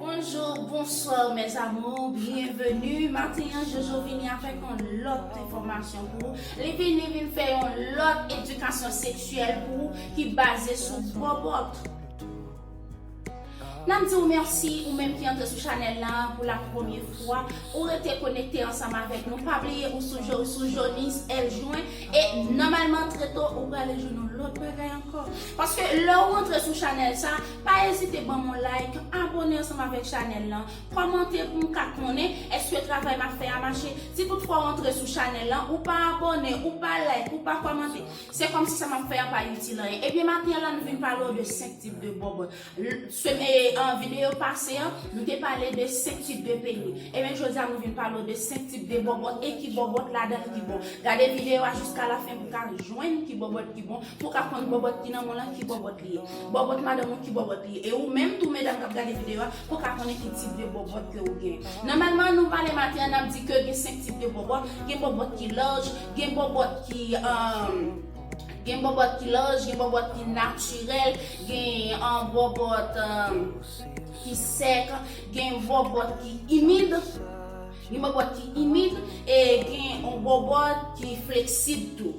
Bonjour bonsoir mes amours bienvenue maten an jojo vini avèk yon lòt enfòmasyon pou ou li vini vin fè yon lòt edikasyon seksyèl pou ou ki baze sou bòbòt Nap di ou merci ou menm ki antre sou chanel la pou la premye fwa ou rete konekte ansanm avek nou pa bliye ou sou johnny's el jouen e nomalman tre to ou prale jwenn yon lot bagay anko paske le ou antre sou chanel sa pa ezite banm yon like abone ansanm avek chanel la komante poum ka konnen eske travay map fe a mache si tout fwa ou antre sou chanel la ou pa abone ou pa like ou pa komante Se komsi sa map fè an pa itil anyen. Ebyen maten la nou vin pale w de 5 tip de bob. Semen video pase an nou te pale de 5 tip de peni. Ebyen jodi a nou vin pale w de 5 tip de bobot e ki bobot ladanl ki bon. Gade video a jiska la fen pou ka jwenn ki bobot ki bon, pou ka konn bobot ki nan moun lan ki bobot li ye. Bobot madanm ou ki bobot li ye. E ou menm tou medam kap gade video a pou ka konnen ki tip de bobot ke ou gen. Nomalman nou pale maten an nap di ke gen 5 tip de bobot, gen bobot ki large, Gen bòbòt ki gen bòbòt ki laj, gen bòbòt ki natirèl, gen bòbòt ki sèk, gen bòbòt ki imid, gen bòbòt ki imid e gen yon bòbòt ki fleksib tou.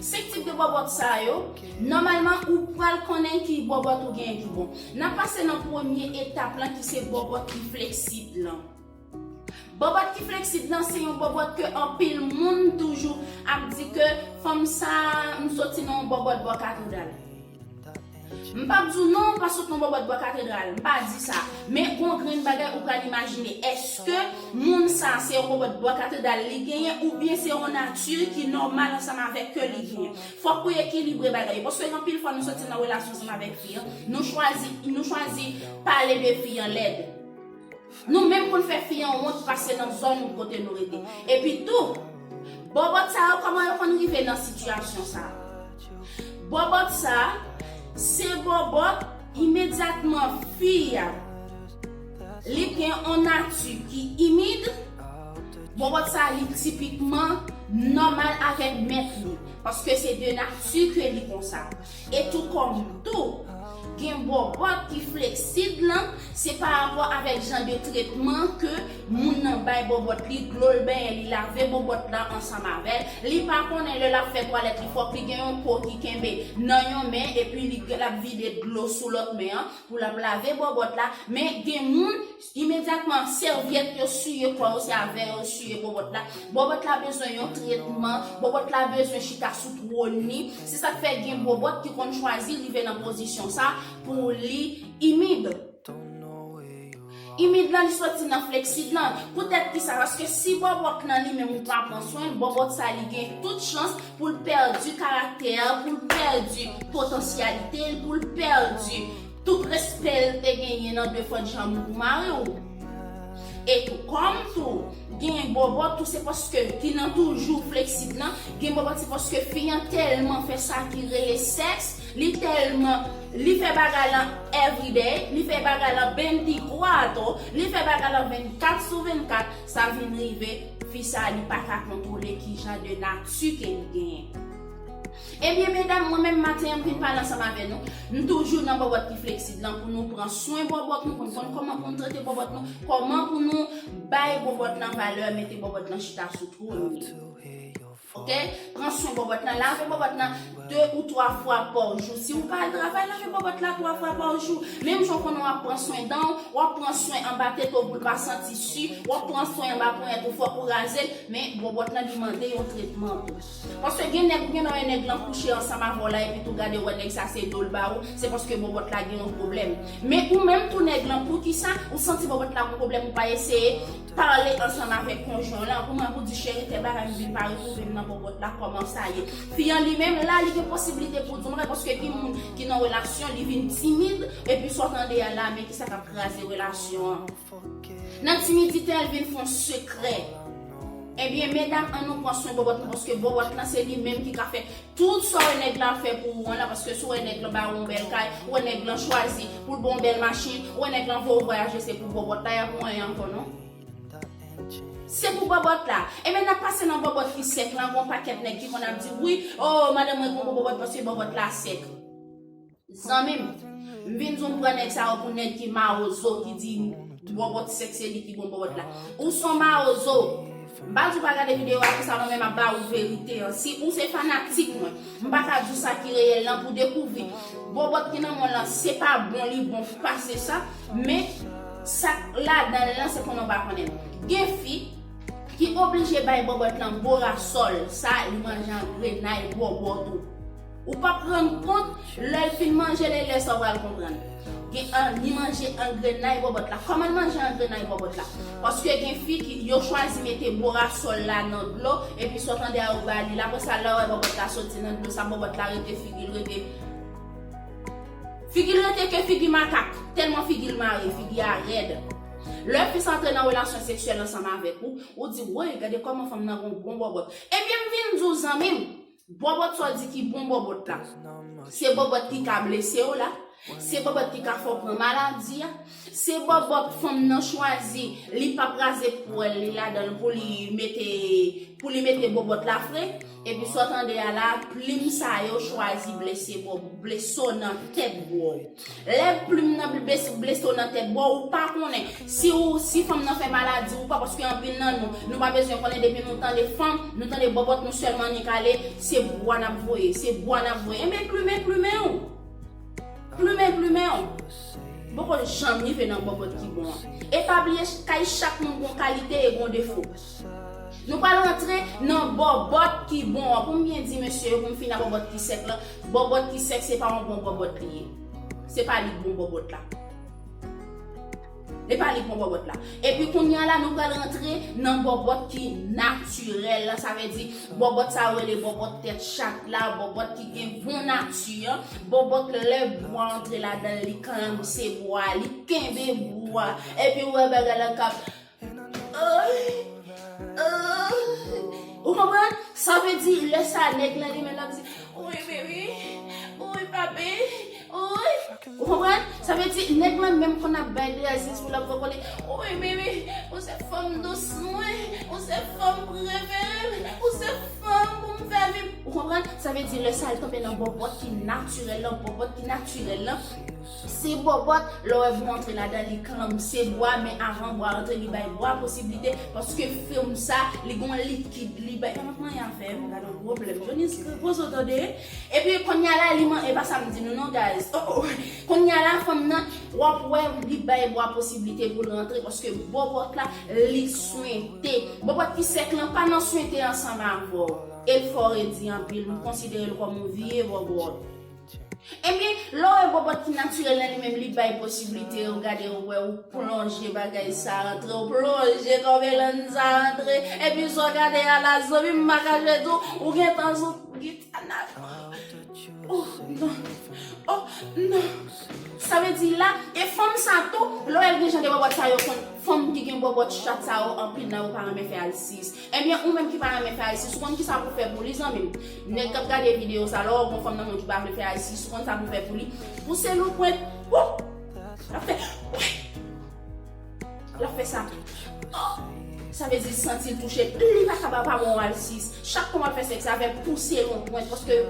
5 tip de bòbòt sa yo, nòmalman ou pral konnen ki bòbòt ou genyen ki bon. N ap pase nan premye etap lan ki se bòbòt ki fleksib lan. Bòbòt ki fleksib nan se yon bòbòt ke anpil moun toujou ap di ke fanm sa m soti nan yon bòbòt bò katredral. M pap di w non ou pa sot nan bòbòt bò katredral, m pa di sa. Men gon grenn bagay ou pral imajine, eske moun sa se yon bòbòt bò katredral li genyen oubyen se yon nati ki nòmal ansanm avèk ke li genyen. Fòk ou ekilibre bagay yo paske gen anpil fwa nou soti nan relasyon ansanm avèk fi an, nou chwazi nou chwazi pale de fi an lèd. Nou menm pou n fè fi an wont pase nan zòn kote nou rete. Epi tou, bòbòt sa yo kòman yo konn rive nan sitiyasyon sa? Bòbòt sa, se bòbòt imedyatman fi a. Li gen on nati ki imid, bòbòt sa li tipikman nòmal avèk mèt li, paske se de nati ke li konsa. E tou kòm tou, gen bòbòt ki fleksib lan, se pa rapò avèk jan de tretman ke moun nan bay bòbòt li, dlo l benyen, li lave bòbòt la ansanm avè l, li pa konnen lè l ap fè twalèt li fòk li gen yon po ki kenbe nan yon men epi li l ap vide dlo sou lòt men an pou l ap lave bòbòt la, men gen moun Imedyatman, sèvyèt yo siye kò yo, se avè yo siye bòbòt la. Bòbòt la bezwen yon tretman, bòbòt la bezwen chita sou twòn li. Se sa k fè gen bòbòt ki konn chwazi rive nan pozisyon sa a pou li imid. Imid lan li soti nan fleksid lan. Poutèt ki sa? Paske si bòbòt lan li menm ou pa pran swen l, bòbòt sa li gen tout chans pou l pèdi karaktè, pou l pèdi potansyalite l, pou l pèdi Tout respè l te genyen nan de fòt janm pou mari w e tou kòm tou gen bòbòt tou se paske ki nan toujou fleksib nan gen bòbòt se paske fi an tèlman fè sa ki rele sèks li tèlman li fè bagay lan everyday li fè bagay lan benntikoato li fè bagay lan 24 sou 24 sa vin rive fi sa li pa ka kontwole kijan de nati ke li genyen. Ebyen medam mwen menm maten an m vin pale ansanm avè nou, m toujou nan bòbòt ki fleksib lan pou nou pran swen bòbòt nou, pou nou konn kòman pou nou trete bòbòt nou, kòman pou nou bay bòbòt lan valè, mete bòbòt lan chita sou twòn li. Ok, pran swen bòbòt lan, lave bòbòt lan 2 ou 3 fwa pa jou, si ou pa al travay lave bòbòt la 3 fwa pa jou, menm jan ou konnen wap pran swen dan ou, wap pran swen anba tete ou poul pa santi su, wap pran swen anba ponyèt ou fòk ou razel, men bòbòt lan li mande yon tretman tou. Paske gen nèg ou gen nan men nèg lan kouche ansanm avèw la epi tou gade wè nèg sa se dol ba ou se paske bòbòt la gen yon pwoblèm men ou menm tou nèg lan poukisa ou santi bòbòt la gen pwoblèm ou pa eseye pale ansanm avèk konjwen w lan pou mwen pou di cheri tè bagay m vin pa retwouve m nan bòbòt la kòman sa ye fi an li menm la li gen posiblite pou di m wè paske gen moun ki nan relasyon li vin timid epi sa w tande a la men kisa kap kraze relasyon an. Nan ti midi tè vin fon sekrè. Ebyen medam an nou pwan swen bòbòt nou paske bòbòt lan se li menm ki ka fè tout sa w wè nèg lan fè pou ou an la paske si w wè nèg lan ba ou yon bèl kay ou wè nèg lan chwazi pou l ba w yon bèl machin ou wè nèg lan voye w vwayaje se pou bòbòt la y ap manyen ankò non se pou bòbòt la ebyen n ap pase nan bòbòt ki sèk lan gon pakèt nèg ki konn ap di wi oo madanm mwen pran pou bòbòt paske bòbòt la sèk. Zanmim, m vin di w m pran nèg sa yo pou nèg ki mawozo ki di bòbòt sèk se li ki bon bòbòt la. Ou son mawozo. M pa di w pa gade video a pou sa non men m ap ba ou verite an. Si ou se fanatik mwen, m pa ka di w sa ki reyèl lan pou dekouvri bòbòt ki nan mwen lan se pa bon li bon pase sa men sa k ladan l lan se konnen w pa konnen l. Gen fi ki oblije bay bòbòt lan borasòl sa li manje an grenay bòbòt ou. Ou pap rann kont lèl fin manje ley lè sa ou pral konprann gen an ni manje angrenay bòbòt la kòman manje angrenay bòbòt la paske gen fi ki yo chwazi mete bora sòl la nan dlo epi sa w tande a ou bali l aprè sa lè w wè bòbòt la soti nan dlo sa bòbòt la rete figil rete figil rete ke figi makak tèlman figil mare figi a rèd lè fi sa antre nan relasyon seksyèl ansanm avèk ou ou di woy gade kòman fanm nan gon bon bòbòt ebyen m vin di w zanmi m Bòbòt sa w di ki bon bòbòt la? Se bòbòt ki ka blese w la? Se bòbòt ki ka fè w pran maladi a? Se bòbòt fanm nan chwazi li pap raze pwèl li ladan l pou li mete pou li mete bòbòt la fre? Epi sa w tande a la, plim sa yo chwazi blese bòbòt, blese w nan tèt bro. Lè plim nan bleso nan tèt bò ou pa konnen si ou si fanm nan fè maladi ou pa paske anpil nan nou nou pa bezwen konnen depi nou tande fanm nou tande bòbòt nou sèlman annik ale se bwa nap voye se bwa nap voye enben plumen plumen ou plumen plumen ou poko janm rive nan bòbòt ki bon an e pa bliye kay chak moun gon kalite e gon defo. Nou pral rantre nan bòbòt ki bon an. Pou m byen di mesye yo, pou m fini ak bòbòt ki sèk lan, bòbòt ki sèk se pa yon bon bòbòt li ye. Se pa li k bon bòbòt la. E pa li k bon bòbòt la. Epi kounye a la nou pral rantre nan bòbòt ki natirèl la. Sa vle di bòbòt sa yo rele bòbòt tèt chat la, bòbòt ki gen bon nati an. Bòbòt lè bwa antre ladan l, li klamse bwa a, li kenbe bwa a. Epi ou wè bagay la k ap. Ou konprann? Sa vle di lè sa a nèg lan li menm lap di Ui baby, ui papi, ui Ou konprann? Sa vle di nèg lan menm konn ap bay de a zizou lap vòvòle Ui baby, ou se fanm dous mwen, ou se fanm prefere m, ou se fanm pou m fè viv Ou konprann? Sa vle di lè sa a li tonbe nan bòbòt ki natirèl lan, bòbòt ki natirèl lan. Se bòbòt, lè w wè bwa antre ladan li klanm se bwa men avan bwa antre li bay bwa posiblite paske fèm sa li gon likid li bay Tank manyen afè m gadon pwoblèm Johnny's poze w tande epi konnya la li man epa sa m di nou non guys oh oh konnya la fanm nan w ap wè li bay bwa posiblite pou l rantre paske bòbòt la li swente bòbòt ki sèk lan pa nan swente ansanm avè w e l fò redi anpil m konsidere l kòm yon vye bòbòt. Ebyen, lè w wè bòbòt ki natirèl nan li menm li bay posiblite yo gade yo wè ou plonje bagay sa antre ou plonje kò melanj sa antre epi sa w gade a la zanmi m pa kache di w ou gentan sou gita nan oh oh nan oh nan sa vle di la e fanm sa tou lè w wè l gen jan de bòbòt sa yo konn fanm ki gen bòbòt chat sa yo anpil nan yo pa renmen fè alsiyis Ebyen ou menm ki pa renmen fè ayistis ou konn kisa pou fè pou li zanmim nèg kap gade video sa lè w gon fanm nan menw ki pa vle fè ayistis ou konn sa pou fè pou li pou se lou pwent wouh lap fè wouy lap fè sa oh sa vle di santil touche li pa kab ap avèw ayistis chak fwa wap fè sèks avèl pou se lou pwent paske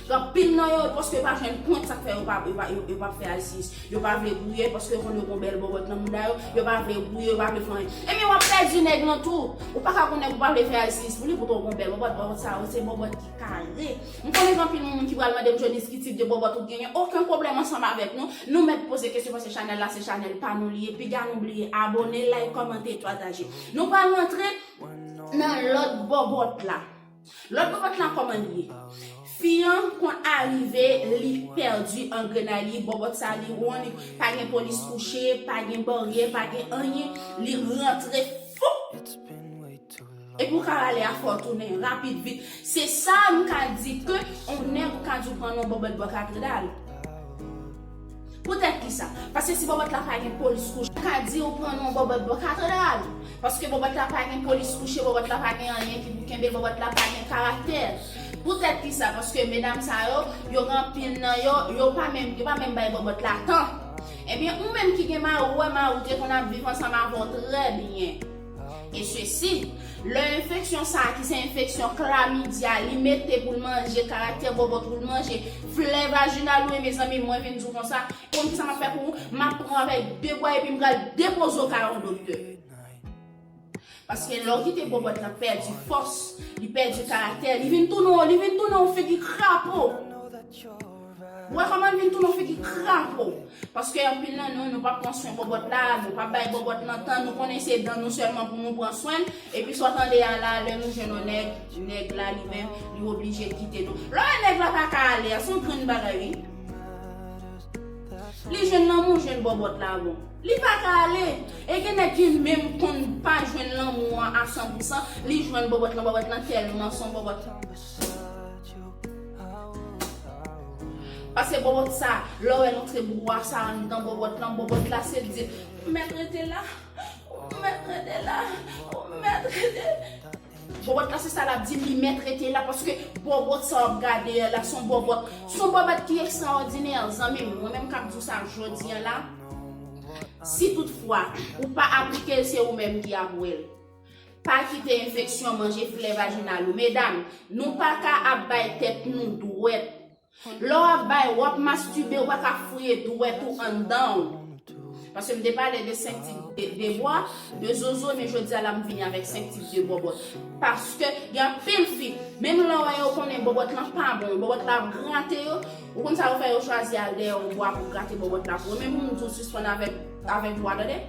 Anpil nan yo, paske yo pa jwenn pwent, sa k fè yo pa yo pa fè ISIS. Yo pa vle gouye, paske yo konn yo gon bèl bòbòt nan mouda yo, yo pa vle gouye, yo pa vle fè anyen. Ebyen w ap pèdi nèg lan tou. Ou pa ka gon nèg ou pa vle fè ISIS pou li, poutan w gon bèl bòbòt, bòbòt sa yo se bòbòt ki kare. M konnen gen anpil moun ki pral mande m Johnny's ki tip de bòbòt ou genyen. Oken pwoblèm ansanm avèk nou. Nou mèt poze kesyon paske chanèl la se chanèl pa nou li ye. Piga nou bliye abone, like, kòmante, pataje. Nou pral rantre nan lòt bòbòt la. Lòt bòbòt la kòman li ye? Fi an konn arive li pèdi angrenay li bòbòt sa li ronn pa gen polis kouche pa gen baryè pa gen anyen li rantre foup epi ou ka rale a fè w tounen rapid vit se sa m ka di ke on nèg ou ka di w pran nan yon bòbòt bò katredal. Poutèt ki sa? Paske si bòbòt la pa gen polis kouche. Ou ka di ou pran non bòbòt bò ka tande a wi. Paske bòbòt la pa gen polis kouche, bòbòt la pa gen anyen ki pou kenbe l, bòbòt la pa gen karaktè. Poutèt ki sa? Paske medam sa yo, yo gen anpil nan yo, yo pa menm, yo pa menm bay bòbòt la tan. Ebyen ou menm ki gen mari ou wè mari w te konn ap viv ansanm avè w trè byen. E sesi, lè enfeksyon sa a ki se enfeksyon klamidya li mete pou l manje karaktè bòbòt pou l manje flè vajinal ou e mezanmi mwen vin di w konsa, konn kisa m ap fè pou ou? M ap pran avèk 2 bwa epi m pral depoze w kay on doktè. Paske lè w kite bòbòt la pèdi fòs, li pèdi karaktè, li vin tounen on figi krapo. Mwen kòman vin tounen yon figi krapo. Paske anpil nan nou, nou pa pran swen bòbòt la, nou pa bay bòbòt lan tan, nou konnen se dan nou sèlman pou nou pran swen l, epi sa w tande a la, lè nou jwenn yon nèg, nèg la li menm, li oblije kite nou. Lè w wè nèg la pa ka ale a, se yon grenn bagay wi. Li jwenn lanmou, jwenn bòbòt la bon. Li pa ka ale. E gen nèg ki menm konn pa jwenn lanmou an a san pou san, li jwenn bòbòt lan, bòbòt lan tèlman se yon bòbòt. Pase bòbòt sa, lè w wè l antre bwa sa anndan bòbòt lan, bòbòt la se di, ou mèt rete la, ou mèt rete la, ou mèt rete la. Bòbòt la se sa l ap di, li mèt rete la paske bòbòt sa w ap gade a la, s on bòbòt, s on bòbòt ki ekstraòdinè, zanmi m, mwen menm k ap di w sa jodi a la, si tout fwa ou pa aplike l se ou menm ki ap wè l. Pa kite enfeksyon manje flè vajinal ou. Medam, nou pa ka ap bay tèt nou dwèt. Lè w ap bay, w ap mastube, ou pa ka fouye dwèt ou anndan w. Paske m te pale de 5 tip de bwa, de zozo, men jodi a la m vini avèk 5 tip de bòbòt. Paske gen anpil fi, menm lè w wè yo konnen bòbòt lan pa bon, bòbòt la ap grate yo, ou konn sa yo fè, yo chwazi al dèyè yon bwa pou grate bòbòt la pou yo. Men pou m di w sispann avèk bwa tande.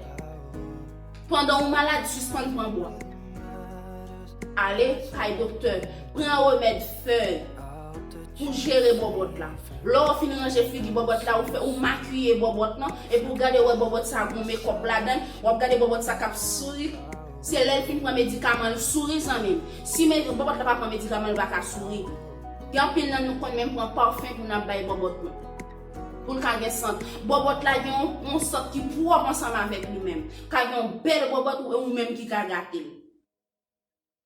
Pandan ou malad sispann pran bwa. Ale kay doktè, pran remèd fèy pou jere bòbòt la. Lè ou fin ranje figi bòbòt la, ou fè ou makiye bòbòt lan epi ou gade wè bòbòt sa gon mekòp ladann, wap gade bòbòt sa kap souri, se lèl fin pran medikaman l souri zanmim. Si bòbòt la pa pran medikaman l pa ka souri. Gen anpil nan nou konn menm pran parfum pou nap bay bòbòt nou. Pou l ka gen sant. Bòbòt la gen yon sant ki pwòp ansanm avèk li menm. Ka gen yon bèl bòbòt e ou menm ki ka gate l.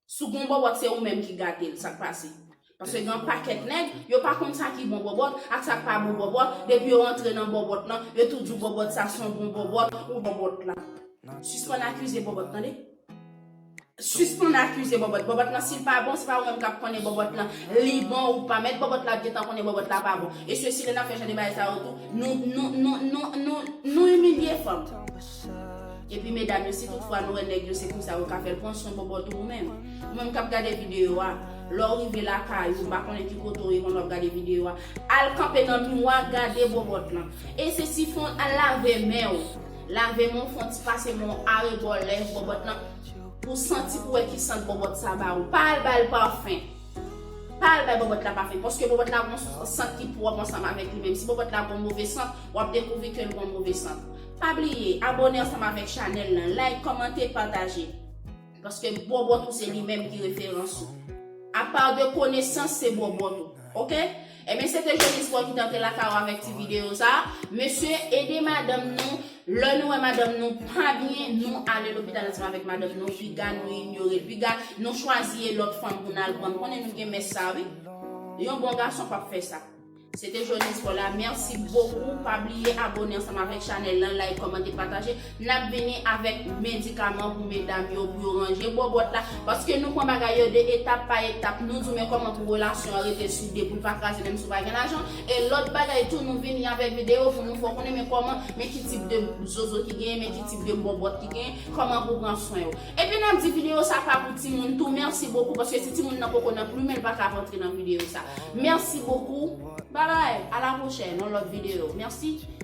Si w gen yon bòbòt se ou menm ki gate l, sa k pase? Paske gen yon pakèt nèg, yo pa konn sa ki bon bòbòt ak sa k pa bon bòbòt, depi yo antre nan bòbòt lan, yo tou di w bòbòt sa son bon bòbòt ou bòbòt la. Sispann akize bòbòt tande. Sispann akize bòbòt bòbòt lan sil pa bon se pa ou menm kap konnen bòbòt lan li bon ou pa mèt bòbòt la t gentan konnen bòbòt la pa bon e sesi lè nap fè jan de bagay sa yo tou nou nou nou nou nou nou imilye fanm epi medam yo si tout fwa nou wè nèg yo se konsa yo ka fèl pran swen bòbòt ou ou menm ou menm kap gade video a lè ou rive lakay ou m pa konnen ki kote ou ye pandan wap gade video a al kanpe nan miwa gade bòbòt lan e sesi fon al lave menw Lave men w fon ti pase men w arebò lèv bòbòt lan pou w santi pou w wè ki sant bòbòt sa ba ou. Pa al ba l pafen. Pa al bay bòbòt la pafen paske bòbòt la gon sant ki pwòp ansanm avèk li menm. Si bòbòt la gon move sant, w ap dekouvri ke l gon move sant. Pa bliye abone ansanm avèk chanèl lan, like, kòmante, pataje. Paske bòbòt ou se li menm ki referans ou. Apa de konesans se bòbòt ou. Ok? Ebyen se te Jones Boy ki te antre lakay ou avèk ti videyo sa. Mesye, ede madanm nou. Lè nou wè madanm nou pa byen, nou ale lopital ansanm avèk madanm nou. Piga nou inyore l. Piga nou chwazi e lòt fanm pou n al pran. M konnen nou gen mès sa wi. Yon bon gason p ap fè sa. Se te Jones Paula merci beaucoup pa bliye abone ansanm avèk chanèl lan like kòmante pataje nap vini avèk medikaman pou medam yo pou yo ranje bòbòt la paske nou pran bagay yo de etap pa etap nou di men kòman pou relasyon an rete soude poul pa kraze menm si ou pa gen lajan e lòt bagay tou nou vini avèk video pou nou fè w konnen men kòman men ki tip de zozo ki genyen men ki tip de bòbòt ki genyen kòman pou pran swen yo. Epi nap di video sa pa pou timoun tou merci beaucoup paske si timoun nan poko nan plumen li pa ka rantre nan video sa merci beaucoup bye bye a la prochaine yon lot video merci.